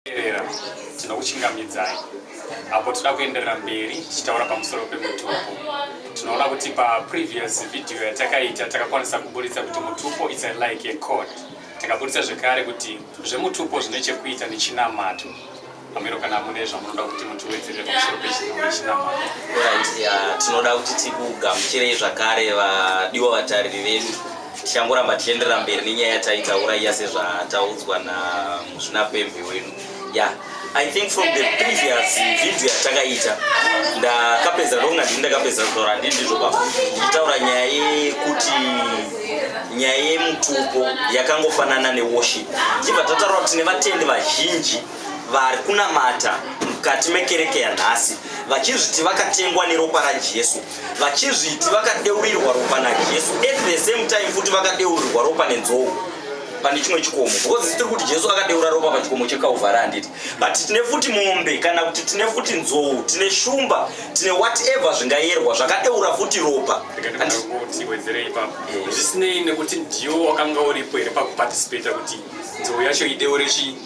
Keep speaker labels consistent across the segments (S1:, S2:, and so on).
S1: Terera, tinokuchingamidzai apo tinoda kuenderera mberi tichitaura pamusoro pemutupo tinoona kuti paprevious video yatakaita takakwanisa kuburitsa kuti mutupo its like a code takaburitsa zvekare kuti zvemutupo zvine chekuita nechinamato pamiro kana mune zvamunoda kuti mutiwedzere pamusoro pechinamato
S2: tinoda kuti tikugamuchirei zvakare vadiwa vatariri vedu Tichangoramba tichienderera mberi nenyaya yataitaura iya sezvataudzwa namuzvinapembe wenu ya I think from the previous video yatakaita ndakapedza ndonga ndini ndakapedza kutaura ndini ndizvo baba ndichitaura nyaya yekuti nyaya yemutupo yakangofanana neworship chibva tataura kuti tine vatendi vazhinji vari kunamata mukati mekereke yanhasi vachizviti vakatengwa neropa rajesu vachizviti vakadeurirwa ropa najesu at the same time futi vakadeurirwa ropa nenzou pane chimwe chikomo because tiri kuti jesu akadeura ropa pachikomo chekauvhara handiti but tine futi mombe kana kuti tine futi nzou tine shumba tine whatever zvingayerwa zvakadeura futi ropa
S1: zvisinei nekuti ndiwo wakanga uripo here pakuparticipata kuti nzou yacho ideure chii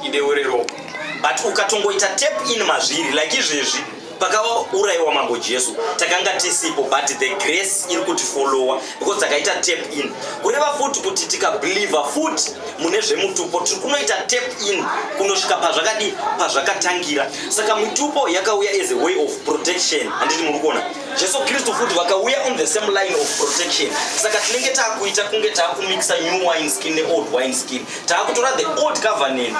S1: Ideure ropa. But ukatongoita
S2: tap in mazviri like izvezvi pakauraiwa mambo Jesu takanga tisipo but the grace iri kuti follower because takaita tap in. Kureva futi kuti tika believer futi mune zvemutupo tiri kunoita tap in kunosvika pazvakadi pazvakatangira. Saka mutupo yakauya as a way of protection. Handiti muri kuona? Jesu Kristu futi vakauya on the same line of protection. Saka tinenge takuita kunge takumixa new wine skin ne old wine skin. taakutora the old covenant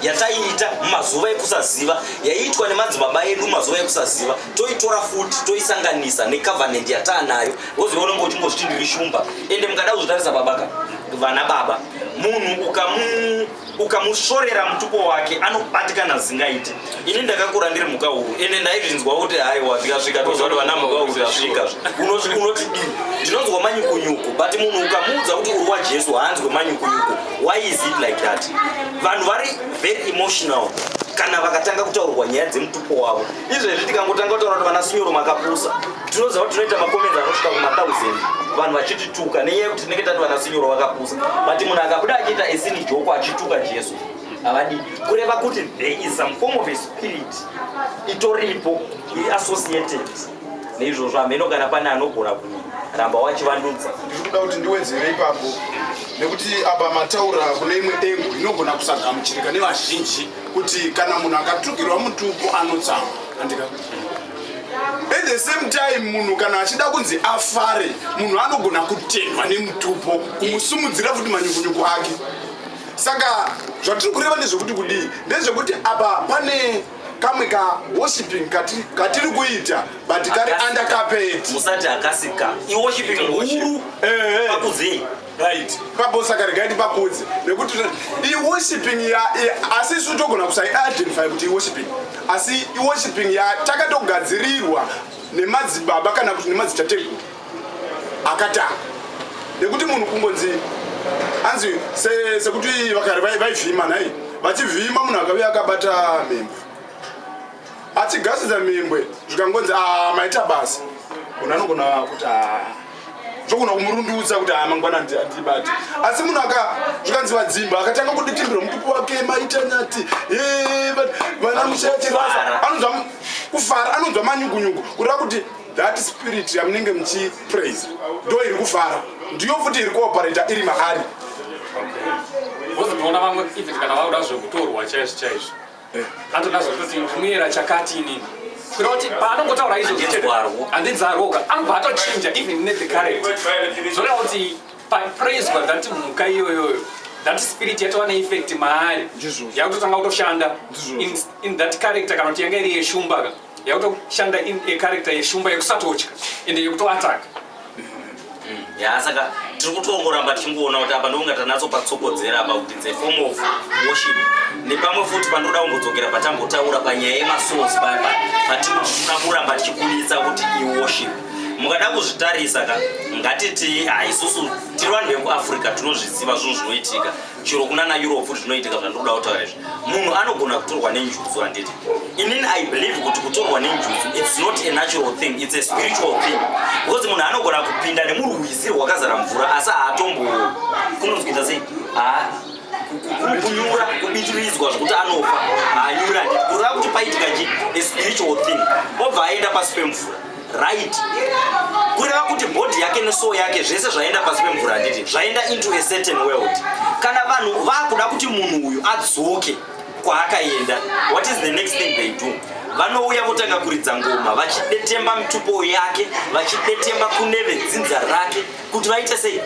S2: yataiita mumazuva ekusaziva yaiitwa nemadzibaba edu mumazuva ekusaziva toitora futi toisanganisa necovenant yataanayo woziva unenge uchingozviti ndiri shumba ende mukada kuzvitarisa babaka vana baba munhu ukamusvorera mutupo wake anobatikana zingaite ini ndakakura ndiri mhuka huru ende ndaizvinzwa kuti haiwa zvikasvika toziva kuti vana mhuka huru zvasvika unotidii ndinonzwa manyukunyuku but munhu ukamuudza kuti uri wajesu haanzwe manyukunyuku why is it like that vanhu vari very emotional kana vakatanga kutaurwa nyaya dzemutupo wavo izvezvi tikangotanga kutaura kuti vana sinyoro makapusa tinoziva kuti tinoita makomenzi anosvika kumathousand vanhu vachitituka nenyaya yekuti tinenge tati vana sinyoro vakapusa but munhu akabuda achiita esini joko achituka jesu havadi kureva kuti there is some form of a spirit itoripo iri associated neizvozvo hameno kana pane anogona kuramba wachivandudza ndiri kuda kuti ndiwedzere
S3: ipapo nekuti apa mataura kune imwe engo inogona kusagamuchirika nevazhinji kuti kana munhu akatukirwa mutupo anotsawa andika at the same time munhu kana achida kunzi afare munhu anogona kutendwa nemutupo kumusumudzira futi manyukunyuku ake saka zvatiri kureva ndezvekuti kudii ndezvekuti apa pane kamwe ka worshiping katiri kuita but kari under carpet musati akasika
S2: i worshiping huru pakuzei eh, eh. right
S3: pabosa kari gaidi pakudzi nekuti i worshiping ya asi isu togona kusai identify kuti i worshiping asi i worshiping ya takatogadzirirwa nemadzibaba kana kuti nemadzitateguru akatanga nekuti munhu kungonzi anzi sekuti se vakare vaivhima vai nhai vachivhima munhu akave akabata mhembwe achigasidza mhembwe zvikangonzi ah, maita basa munhu anogona kuti ah, zvogona kumurundudza kuti ah, mangwana andibati asi munhu aka zvikanzi vadzimba akatanga kuditimbira mutuku wake maita nyati vana mushachirasa anonzwa kufara anonzwa manyugunyugu kureva kuti that spirit yamunenge muchipraise ndo iri kufara ndiyo futi iri kuoparata iri maari wozotoona
S1: vamwe even kana vauda zvekutorwa chaizvo chaizvo eh. anotoda zvekutoti ndimuyera chakati inini kuda kuti paanongotaura izvoandinzarwoka anobva atochinja even ne the current zvoreva kuti papraiswa that mhuka iyoyoyo that spirit yatova neeffect maari yakutotanga kutoshanda in that character kana kuti yanga iri yeshumbaka yakutoshanda in a character yeshumba yekusatotya ende yekutoataka mm-hmm. ya saka
S2: tiri kutongoramba tichingoona kuti apa ndokunga tanatso patsokodzera apa kuti the form of worship nepamwe futi pandoda kumbodzokera patambotaura panyaya yemasource papa patiri kuda kuramba tichikunitsa kuti iworship mukada kuzvitarisa ka ngatiti haisusu tiri vanhu vekuafrica tinozviziva zvinhu zvinoitika chero kunana europe zvinoitika zvandinoda kutaura izvi munhu anogona kutorwa nenjuzu handiti inini i believe kuti kutorwa nenjuzu its not a natural thing its a spiritual thing because munhu anogona kupinda nemurwizi rwakazara mvura asi haatombo kunozwita sei kunyura kubitiridzwa zvekuti anofa haanyura handiti kureva kuti paitika chi a spiritual thing obva aenda pasi pemvura right kureva kuti body yake nesoul yake zvese zvaenda pasi pemvura handiti zvaenda into a certain world kana vanhu vakuda kuti munhu uyu adzoke kwaakaenda what is the next thing they do vanouya votanga kuridza ngoma vachidetemba mitupo yake vachidetemba kune vedzinza rake kuti vaite sei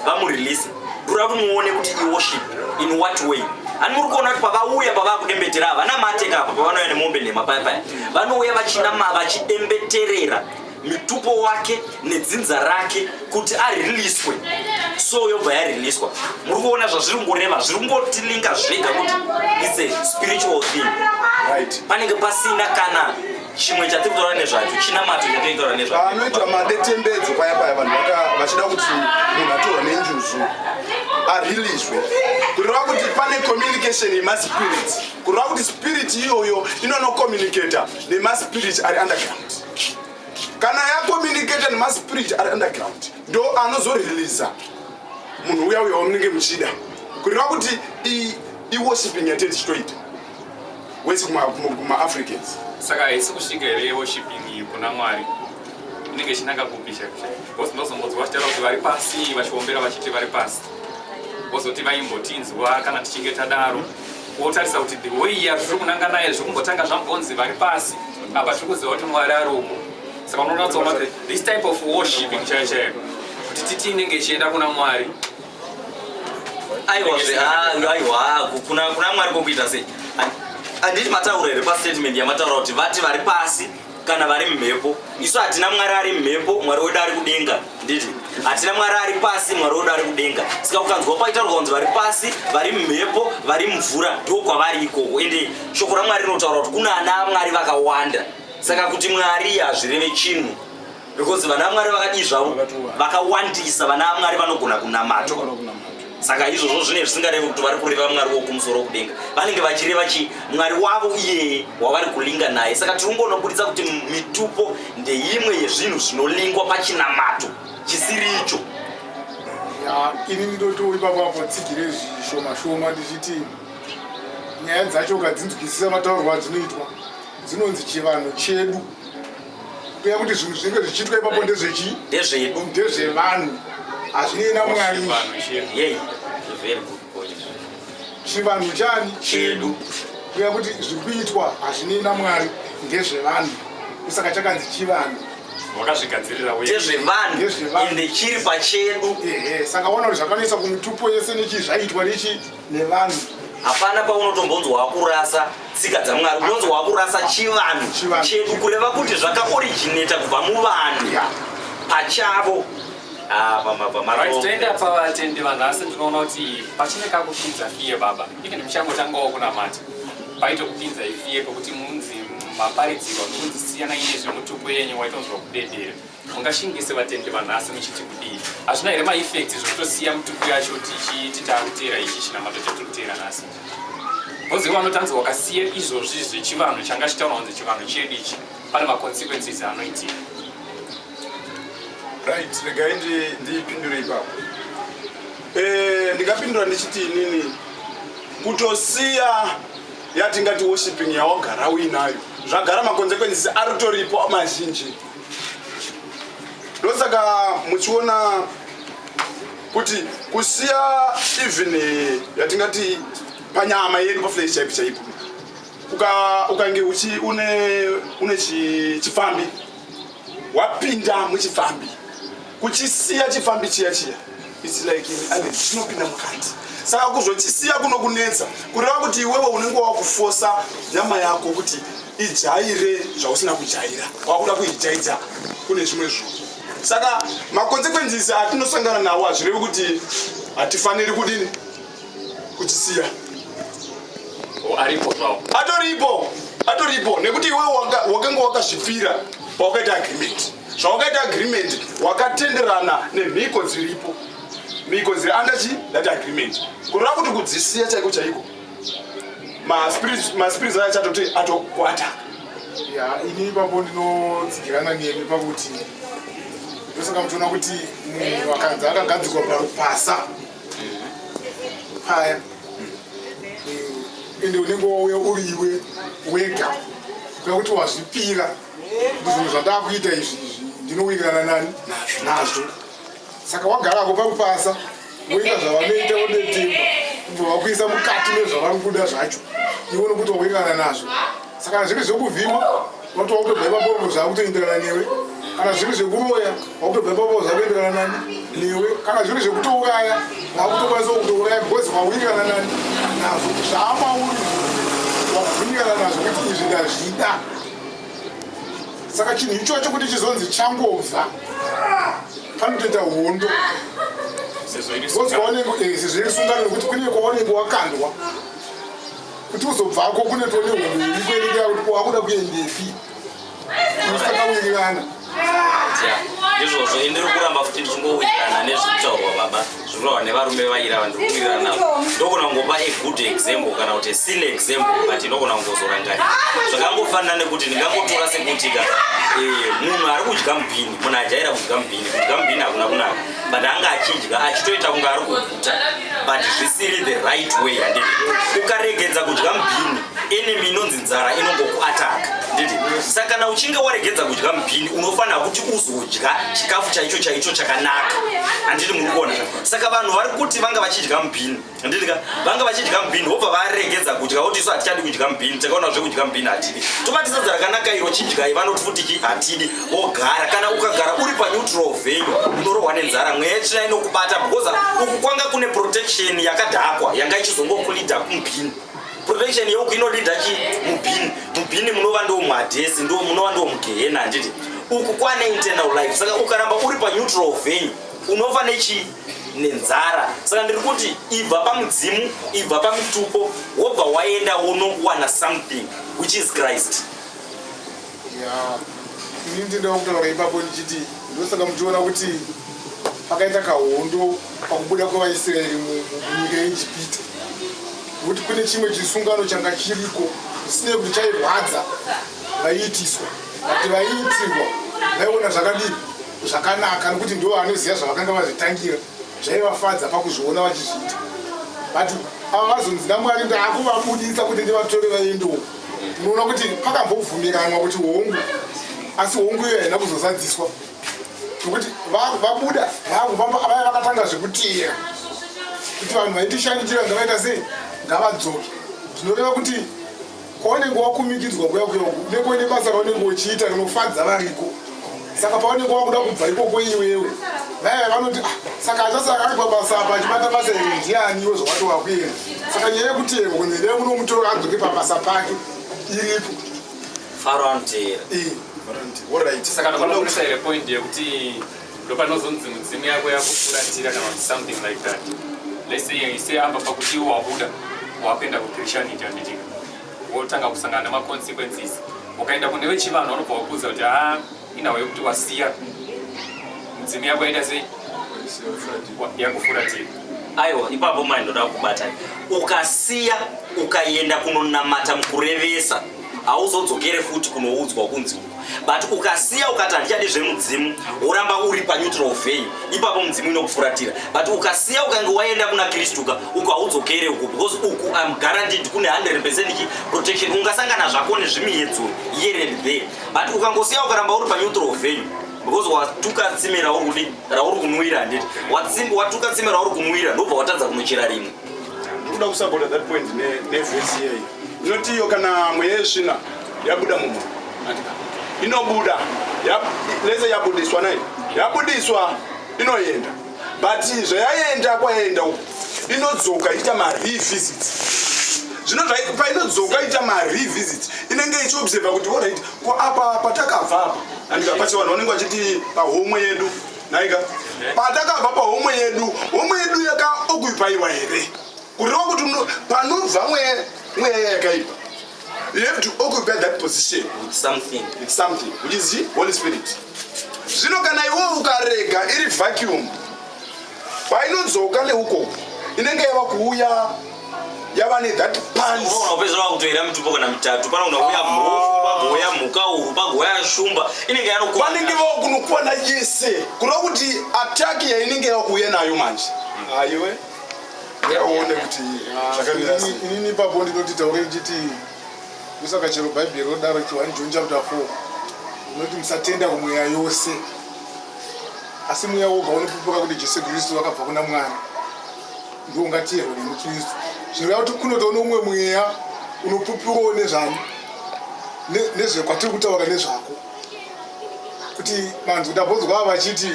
S2: vamurelease ndura kumuone kuti iworship in what way ani muri kuona kuti pavauya pavakudembetera ava vanamateka apa pavanouya nemombe nhema paya paya vanouya vachinama vachidembeterera mitupo wake nedzinza rake kuti ariliswe so yobva yariliswa muri kuona zvazviri kungoreva zviri kungotilinga zvega kuti its a spiritual thing right. panenge
S3: pasina
S2: kana chimwe chatiri kutaura nezvacho chinamato chatiri kutaura nezvacho anoitwa madetembedzo
S3: paya paya vanhu vachida kuti munhu atorwa nenjuzu ariliswe kureva kuti pane communication yemaspirits kureva kuti spirit iyoyo inonocomunicata nemaspirit ari underground kana yacomunicata nemaspirit ari underground ndo anozoriliza munhu uya uya wamunenge muchida kureva kuti iworshiping yatete chitoita wese kumaafricans saka haisi
S1: kusvika here woshiping kuna mwari inenge ichinanga kupi chaibecause ndozongonzwa vachitaura kuti vari pasi vachiombera vachiti vari pasi vozoti vaimbotinzwa kana tichinge tadaro wotarisa kuti the way ya zviri kunanga naye zviri kumbotanga zvambonzi vari pasi apa tiri kuziva kuti mwari ari uko saka unoona tsoona kuti this type of worshiping chaiyo chaiyo kuti titi inenge ichienda kuna mwari aiwa zve
S2: ah, aiwa ah, kuna kuna mwari kokuita sei anditi mataura here pastatement yamataura kuti vati vari pasi kana vari mumhepo isu hatina mwari ari mumhepo mwari wedu ari kudenga nditi hatina mwari ari pasi mwari wedu ari kudenga saka ukanzwa paitaurwa kunzi vari pasi vari mumhepo vari mumvura ndo kwavari ikoko ende shoko ramwari rinotaura kuti kuna ana mwari vakawanda saka kuti mwari hazvireve chinhu because vana mwari vakadii zvavo vakawandisa vana mwari vanogona kunamatwa saka izvozvo zvine zvisingarevi kuti vari kureva mwari wokumusoro kudenga vanenge vachireva chi mwari wavo iyeye wavari kulinga naye saka tiri kungonobuditsa kuti mitupo ndeimwe yezvinhu zvinolingwa pachinamato chisiri icho
S4: ini ndinoto ipapo apo tsigire zvishoma shoma ndichiti nyaya dzacho ukadzinzwisisa mataurwa adzinoitwa dzinonzi chivanhu chedu kuya kuti zvinhu zvinenge zvichiitwa ipapo ndezvechi ndezvedu ndezvevanhu hazvinei namwari chivanhu chani chedu kuya kuti zviri kuitwa hazvinei namwari ndezvevanhu kusaka chakanzi chivanhu vakazvigadziriraezvevanhu
S2: ende chiri pachedu saka ona kuti
S4: zvakanetsa kumutupo yese nechi zvaitwa nechi nevanhu hapana
S2: paunotombonzwa wakurasa tsika dzamwari unonzwa wakurasa chivanhu chedu kureva kuti zvakaoriginata kubva muvanhu pachavo ah,
S1: toenda pavatendi vanhu asi ndinoona kuti pachine kakupinza fiye baba even muchangotangawo kunamata paitokupinza ifiye pekuti munzi maparidzirwa nokunzi siyana ine zvemutupo yenyu waitonzwa kudedera mungashingise vatendi vanhasi muchiti kudii hazvina here maeffects zvokutosiya mutuku yacho tichiti taakutera ichi chinamato chatiri kutera nhasi bhozi vanotanzi wakasiya izvozvi zvechivanhu changa chitaura kunzi chivanhu chedu ichi pane maconsequences anoitika
S3: right regai ndipindure ipapo eh, ndingapindura ndichiti inini kutosiya yatingati worshipping yawagara uinayo zvagara maconsequences aritoripo mazhinji ndosaka muchiona kuti kusiya even eh, yatingati panyama yedu paflesh chaipo chaipo ukange uchi une chipfambi wapinda muchipfambi kuchisiya chifambi chiya chiya its like ane chinopinda mukati saka kuzochisiya kunokunetsa kureva kuti iwewe unenge wakufosa nyama yako kuti ijaire zvausina kujaira wakuda kuijaidza kune zvimwe zvinhu saka maconsequences atinosangana nawo hazvirevi kuti hatifaniri kudini kuchisiya oh, aripo zvawo atoripo atoripo nekuti iwewe wakanga wakazvipira pawakaita agreement zvawakaita agreement wakatenderana nemhiko dziripo mhiko dziri under chi that agreement kureva kuti kudzisiya chaiko chaiko maspirits aya chatoti atokwata
S4: ini ipapo ndinotsigirana nemi pakuti ndosaka muchiona kuti munhu akanzi akagadzikwa parupasa paya ende unenge wauya uri iwe wega kuda kuti wazvipira ndizvinhu zvandakuita izvi izvi ndinowirirana nani nazvo saka wagarako pakupasa woita zvavanoita wodetemba kubva vakuisa mukati nezvavari kuda zvacho iwe nokuti wawirirana nazvo saka kana zviri zvekuvhima unoti wakutobva ipapopo zvakutoenderana newe kana zviri zvekuroya wakutobva ipapo zvakuenderana nani newe kana zviri zvekutouraya vakutokwanisa kutouraya because wawirirana nani nazvo zvaamauri wakuvirirana nazvo kuti izvi ndazvida saka chinhu ichocho kuti chizonzi changobva panotoita hondo ozwaonenge eh, sezvo iri sungano nekuti kune kwaonenge wakandwa kuti uzobvako kune tone hondo iriko inenge yakuti wakuda kuendepi unosaka kuwirirana
S2: izvozvo indiri kuramba futi ndichingowirirana nezvekutaurwa baba zvikurava nevarume vaira vandikuwirirana navo ndokona kungopa a good example kana kuti a sin example but ndokona kungozorangarira zvakangofanira nekuti ndingangotora sekuti ka eh, munhu ari kudya mubhini munhu ajaira kudya mubhini kudya mubhini hakuna kunaka but anga achidya achitoita kunge ari kuguta but zvisiri the right way handii ukaregedza kudya mubhini enemy inonzi nzara inongokuataka nditi saka kana uchinge waregedza kudya mubhini unofanira kuti uzodya chikafu chaicho chaicho chakanaka handiti muri kuona saka vanhu vari kuti vanga vachidya mubhini handiti ka vanga vachidya mubhini wobva varegedza kudya woti isu hatichadi kudya mubhini takaona zve kudya mubhini hatidi tobatisadza rakanaka iro chidyai vanoti futi chi hatidi wogara kana ukagara uri paneutral venyu unorohwa nenzara mweya yechina inokubata because uku kwanga kune protection yakadhakwa yanga ichizongokulidha kumubhini Prevention yehuku inodida chi mubhini mubhini munova ndo muhadhesi ndo munova ndo mugehena handiti uku kwane internal life saka ukaramba uri paneutral venue unofa nechii nenzara saka ndiri kuti ibva pamudzimu ibva pamitupo wobva waenda wonowana something which is christ
S4: Yeah. Ini ndinoda kutaura ipapo ndichiti ndosaka muchiona kuti pakaita kahondo pakubuda kwevaisraeri munyika yeijipita nokuti kune chimwe chisungano changa chiriko zvisinei kuti chairwadza vaiitiswa vati vaiitirwa vaiona zvakadii zvakanaka nokuti ndo vanoziva zvavakanga vazvitangira zvaivafadza pakuzviona vachizviita but ava vazonzi namwari ndaakuvabudisa kuti ndivatore vaendewo unoona kuti pakambobvumiranwa kuti hongu asi hongu iyo haina kuzozadziswa nokuti vabuda vakufamba vaya vakatanga zvekuteera kuti vanhu vaitishanyitira ngavaita sei ngavadzoke zvinoreva kuti Kwaunenge wakumikidzwa kuya kuya uku neko ine basa raunenge uchiita rinofadza variko saka paunenge wakuda kubva ikoko iwewe vaya vanoti ah, saka achasaka ari pabasa apa achibata basa iri ndiani iwe zvawato wakuenda saka nyaya yekuti yeko kunzi ndee munomutora adzoke pabasa pake iripo faro
S2: anoteera
S1: saka ndokuda kuisa here point yekuti ndopanozonzi mudzimu yako yakufuratira kana kuti something like that let's say you say apa pakuti iwo wabuda wakuenda kuchristianity handitika wotanga kusangana nemaconsequences ukaenda kune vechivanhu vanobva wakuudza kuti ha ah, inawo yekuti wasiya mudzimu yako yaita sei yakufuratira aiwa ipapo
S2: mai ndoda kubata ukasiya ukaenda kunonamata mukurevesa hauzodzokere futi kunoudzwa kunzi but ukasiya ukati handichadi zvemudzimu woramba uri paneutral venue ipapo mudzimu inokufuratira but ukasiya ukange waenda kuna kristuka uku haudzokere uku because uku im guaranteed kune 100 percent chi protection ungasangana zvako nezvimiyedzo here and there but ukangosiya ukaramba uri paneutral venue because watuka tsime rauri kudi rauri kunwira handiti watuka tsime rauri kunwira ndobva watadza kunochera rimwe Ndikuda kusapota
S3: that point nevhesi iyeyi inoti iyo kana mweya yesvina yabuda mumwe inobuda lese yabudiswa nai yabudiswa inoenda but zvayaenda kwayaenda uku inodzoka iita marevisit zvino painodzoka iita marevisit inenge ichiobserva kuti orit ko apa patakabva apa andika pachivanhu vanenge vachiti pahomwe yedu naika patakabva pahomwe yedu homwe yedu yakaokupaiwa here kureva kuti panobva mweya yakaipa you have to occupy that position with something with
S2: something which is the
S3: holy spirit zvino kana iwe ukarega iri vacuum painodzoka neuko inenge yava kuuya yava ne that pants unoona kupedzisira wakutoera
S2: mitupo kana mitatu pana unouya ah. mhofu pagouya mhuka uru pagouya shumba inenge yanokwana vanenge vakunokwana
S3: yese kuda kuti attack yainenge yakuuya nayo manje hmm. aiwe yaone kuti zvakamira sei inini ipapo ndinoti
S4: taure ndichiti kusaka chero bhaibheri rodaro kuti 1 john chapter 4 unoti musatenda kumweya yose asi mweya woga unopupuka kuti jesu kristu wakabva kuna mwari ndiwo ungatiyerwa nemukristu zvinoreva kuti kunotawo noumwe mweya unopupurawo nezvani nezvekwatiri kutaura nezvako kuti vanhu ndabonzwa vachiti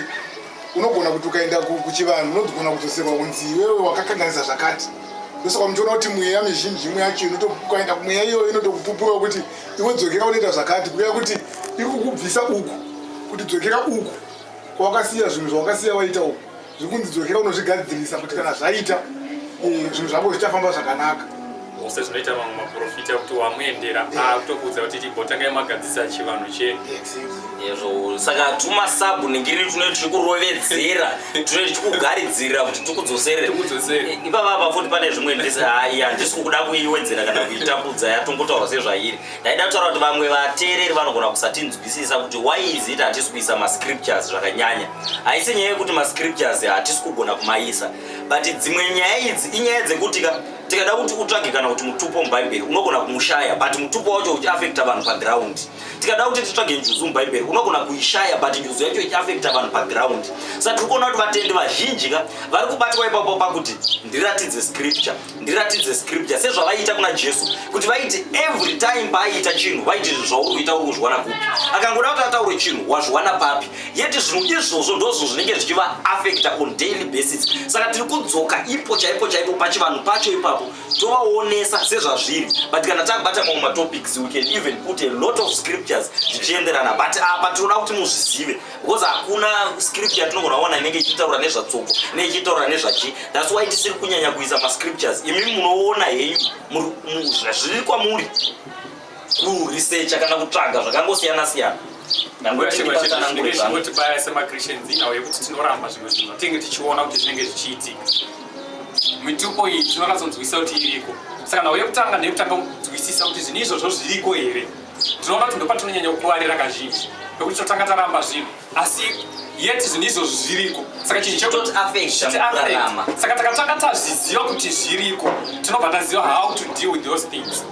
S4: unogona kuti ukaenda kuchivanhu unogona kudzoserwa kunzi iwewe wakakanganisa zvakati ndosaka muchiona kuti mweya mizhinji imwe yacho inotokaenda kumweya iyoyo inotokupupurawo kuti iwe dzokera unoita zvakati kuya kuti ikukubvisa uku kuti dzokera uku kwawakasiya zvinhu zvawakasiya waita uku zvekunzi dzokera unozvigadzirisa kuti kana zvaita eh, zvinhu zvako zvichafamba zvakanaka ose zvinoita
S1: mamwe maprofita kuti wamuendera akutokuudza kuti tibotangai magadzisa chivanhu chedu ezvo
S2: saka tuma sabu ningiri tunoti tiri kurovedzera tunoti tichikugaridzirira kuti tikudzoserere eh, ipava apa futi pane zvimwe ndisi handisi kukuda kuiwedzera kana kuitambudza yatongotaura sezvairi ndaida kutaura kuti vamwe vateereri vanogona kusatinzwisisa kuti why is it hatisi kuisa mascriptures zvakanyanya haisi nyaya yekuti mascriptures hatisi kugona kumaisa but dzimwe nyaya idzi inyaya dzekuti ka tikada kuti utsvage kana kuti mutupo mubhaibheri unogona kumushaya but mutupo wacho uchiafekta vanhu paground tikada kuti titsvage njuzu mubhaibheri unogona kuishaya but njuzu yacho ichiafekta vanhu paground sa tiri kuona kuti vatendi vazhinji ka vari kubatwa ipapo pakuti ndiratidze scripture ndiratidze scripture sezvavaiita kuna jesu kuti vaiti every time paaiita chinhu vaiti izvi zvauri kuita uri kuzviwana kupi akangoda kuti ataure chinhu wazviwana papi yeti zvinhu izvozvo ndozvo zvinenge zvichivaafecta on daily basis saka tiri kudzoka ipo chaipo chaipo pachivanhu pacho ipapo tovaonesa sezvazviri but kana tabata mamwe matopics we can even put a lot of scriptures zvichienderana but apa tinoda kuti muzvizive because hakuna script yatinogona kuona inenge ichitaura nezvatsoko ne ichitaura nezvachi thats why tisiri kunyanya kuisa mascriptures imi munoona henyu zviri kwamuri kuresearcha kana kutsvaga zvakangosiyana siyana ndangotibatsanangurevanotibaya
S1: semachristians inawo yekuti tinoramba zvimwe zvinhu zvatinenge tichiona kuti zvinenge zvichiitika mitupo iyi tinonyatsonzwisisa kuti iriko saka nhau yekutanga ndeyekutanga kunzwisisa kuti zvinhu izvozvo zviriko here Tinoona kuti ndopatinonyanya kukuvarira kazhinji nekuti totanga taramba zvinhu asi yet zvinhu izvozvo zviriko saka chinhu chetotiafectrarama saka takatanga tazviziva kuti zviriko tinobva taziva how to deal with those things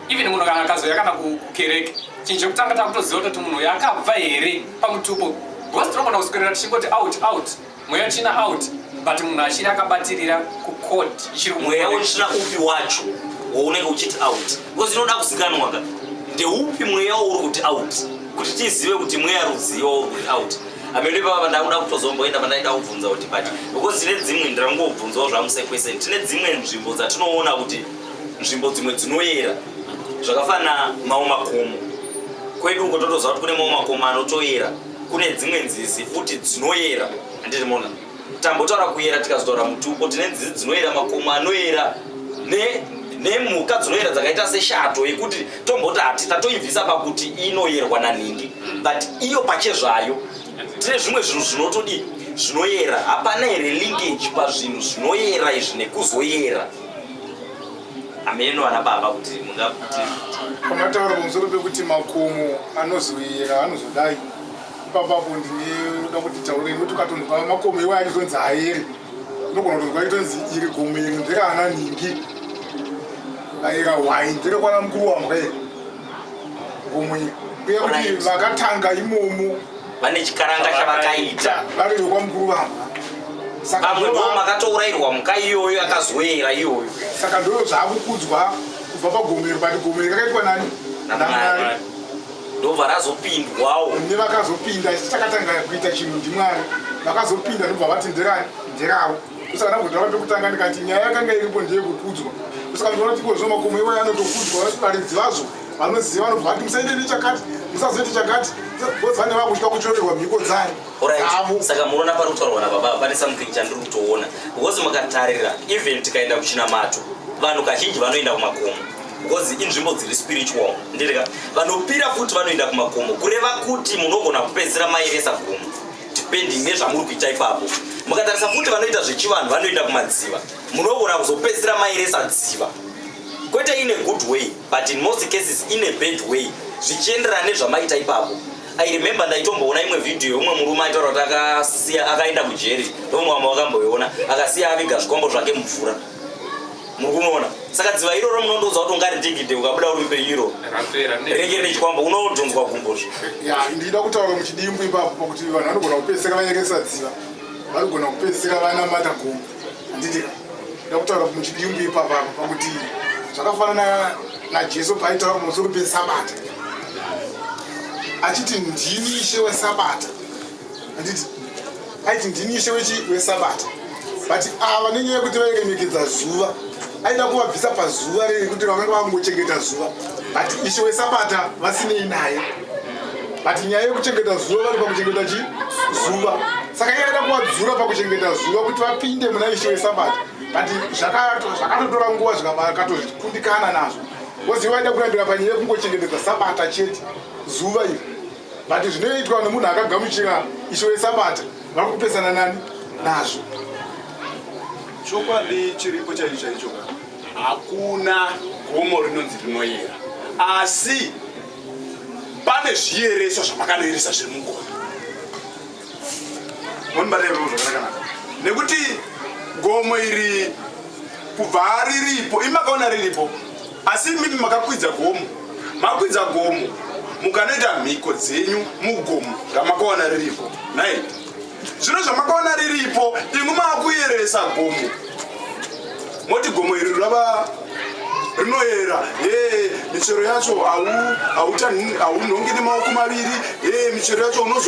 S1: even munhu kana akazouya kana kukereke chinhu chekutanga takutoziva kutoti munhu uyo akabva here pamutupo because tinogona kuswerera tichingoti out out mweya tsvina out but munhu achiri akabatirira kucod mweya wetsvina
S2: upi wacho waunenge uchiti out bcause inoda kuzikanwa ka ndeupi mweya wauri kuti out kuti tizive kuti mweya rudzii wauri kuti out amene pava pandakuda kutozomboenda pandaida kubvunza kuti but bcause tine dzimwe ndirangobvunzawo zvamusekwese tine dzimwe nzvimbo dzatinoona kuti nzvimbo dzimwe dzinoyera zvakafanana mawo makomo kwedu uko totoziva kuti kune mawo makomo anotoyera kune dzimwe nzizi futi dzinoyera handiti mona tambotaura kuyera tikazotaura mutupo tine nzizi dzinoyera makomo anoyera nemhuka dzinoyera dzakaita seshato yekuti tomboti hati tatoibvisa pakuti inoyerwa nanhingi but iyo pachezvayo tine zvimwe zvinhu zvinotodii zvinoyera hapana here linkage pazvinhu zvinoyera izvi nekuzoyera hameno vana baba kuti mungakuti pamataura
S4: pamusoro pekuti makomo anozoyera anozodai ipapapo ndinoda kuti taure nekuti ukatonzwa makomo iwayo achitonzi haere unogona kutonzwa itonzi iri gomo iri nderaana ningi aera hwai nderekwana mukuru wamhwe gumunya uye kuti vakatanga imomo vane chikaranga
S2: chavakaita vari vekwamukuru
S4: vamba vamwe
S2: ndo makatourairwa muka iyoyo akazoera iyoyo saka ndoo
S4: zvaakukudzwa kubva pagomero but gomero kakaitwa nani namwari ndobva
S2: razopindwawo nevakazopinda
S4: chakatanga kuita chinhu ndimwari vakazopinda ndobva vati nderani nderavo kusana kudhara pekutanga ndikati nyaya yakanga iripo ndeyekukudzwa kusaka ndinoona kuti kozvo makomo iwayo anotokudzwa varidzi vazo vanoziva vanobva vati musaite nechakati musazoite chakati because vane vakutya kuchorerwa mhiko dzayo saka
S2: munoona pari kutaurwa nababa pane something chandiri kutoona because mukatarira even tikaenda kuchinamato vanhu kazhinji vanoenda kumakomo because inzvimbo dziri spiritual ndirika vanopira futi vanoenda kumakomo kureva kuti munogona kupedzera mairesa gomo depending nezvamuri kuita ipapo mukatarisa futi vanoita zvechivanhu vanoenda kumadziva munogona kuzopedzisira mairesa dziva kwete ine good way but in most cases ine bad way zvichienderana nezvamaita ipapo i remember ndaitomboona imwe vhidhiyo umwe murume aitaura kuti akasiya akaenda kujeri nomwe wamwe wakamboiona akasiya aviga zvikombo zvake mumvura muri kunoona saka dziva iroro munondoudza kuti ungaridigide ukabuda uri mupenyu iroro rinenge rine chikwambo unodhonzwa gumbozvo ndida kutaura
S4: muchidimbu ipapo pakuti vanhu vanogona kupedzisira vanyekesa dziva vanogona kupedzisira vana mata gombo handiti nda kutaura muchidimbu ipapo apo pakuti zvakafanana najesu paaitaura pamusoro pesabata achiti ndini ishe wesabata handiti aiti ndini ishe wesabata but ava nenyaya yekuti vairemekedza zuva aida kuvabvisa pazuva rei kuti vamwe vakungochengeta zuva but ishe wesabata vasinei naye but nyaya yekuchengeta zuva vari pakuchengeta chi zuva saka iye aida kuvadzura pakuchengeta zuva kuti vapinde muna ishe wesabata but zvakatotora nguva zvikakatozvikundikana nazvo koziva vaida kurambira panyaya yekungochengetedza sabata chete zuva iri but zvinoitwa nemunhu akagamuchira isho wesabata vari kupesana nani nazvo chokwadi
S3: chiripo chaicho chaicho hakuna gomo rinonzi rinoyera asi pane zviyereso zvamakanoyeresa zviri mugomo monibatevo zvakanakanaka nekuti gomo iri kubva riripo imakaona riripo asi imimi makakwidza gomo makwidza gomo mukanoita mhiko dzenyu mugomo ramakaona riripo nai zvino zvamakaona riripo imwi maakuyeresa gomo moti gomo iri rava rinoyera e michero yacho haunhongi nemaoko maviri e michero yacho unozo